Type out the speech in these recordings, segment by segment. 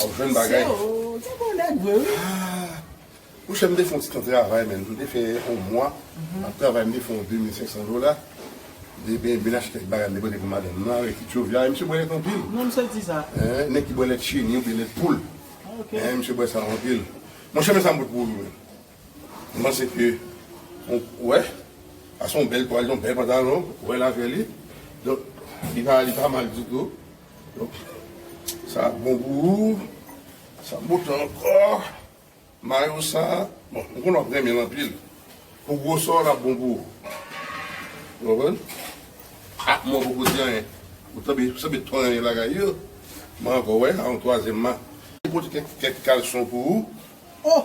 Wap jwenn bagay. Sè ou gen bon nèg vre wi. Ah Mouche m te fon ti tan travay menn, m te fè on mwa ap travay m te fè on 2500 dola, m te ben ben achte kèk bagay m te pote pou madanm nan avèk ti tchov la, e misye bwè lèt anpil. Non misye di sa. Hein, nèg ki bwè lèt cheni oubyen lèt poul. Ok. Hein, misye bwè sa anpil. Monchè men sa m pot pou ou menm. M panse ke on wè, sa son bèl twal, son bèl pantalon, wè lajè li. Donk li pa li pa mal ditou. Ok sa ap bon pou ou sa ap bote ankò mayo sa bon m konnen wap renmen l anpil pou gwosè w lap bon pou ou ou konprann ah mwen poko di anyen ou sanble ou sanble to renmen bagay yo mwen ankò wè a yon twazyèm ma. Mwen pote kèk kalson pou ou oh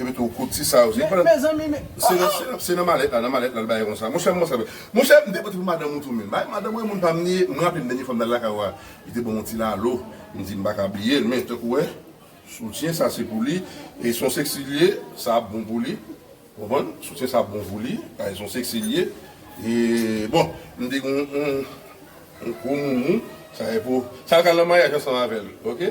Epi tou kout ti sa yo. Se nan malèt la, nan malèt la li bay konsa. Monchè mwen sa. Monchè m te pote pou madanm ou tou menm. Bay madanm ou e moun pa m li. M raple m dènye fwa m t al lakay ou a, li te ban m yon ti lalo. M di m pa ka bliye l men tankou w wè soutyen sa se pou li. E son seksi li ye, sa ap bon pou li. Ou konprann? Soutyen sa ap bon pou li. Paske son seksi li ye. E bon, m te gen yon gwo moumou. Sa e pou sa l ka nan maryaj ansanm avè l. Ok.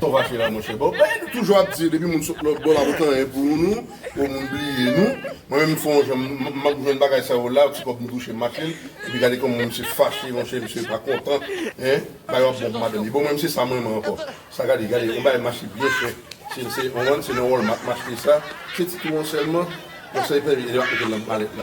Saw fache la monchè bon bagay nou toujou ap di depi moun sot lòt bò lap ret anyen pou nou pou moun bliye nou mwen menm fon jan map jwenn bagay sa yo la ti kòb m touche m mache l epi gade kòman misye fache monchè misye pa kontan hein bagay yo ap bon pou madanm li bon mwen menm se sa m renmen ankò sa gade gade yon bagay mache byen chè sil se yon wan se nan walmart m achte sa se ti tou an sèlman yon sèl pèl e li ap mete l nan malèt la.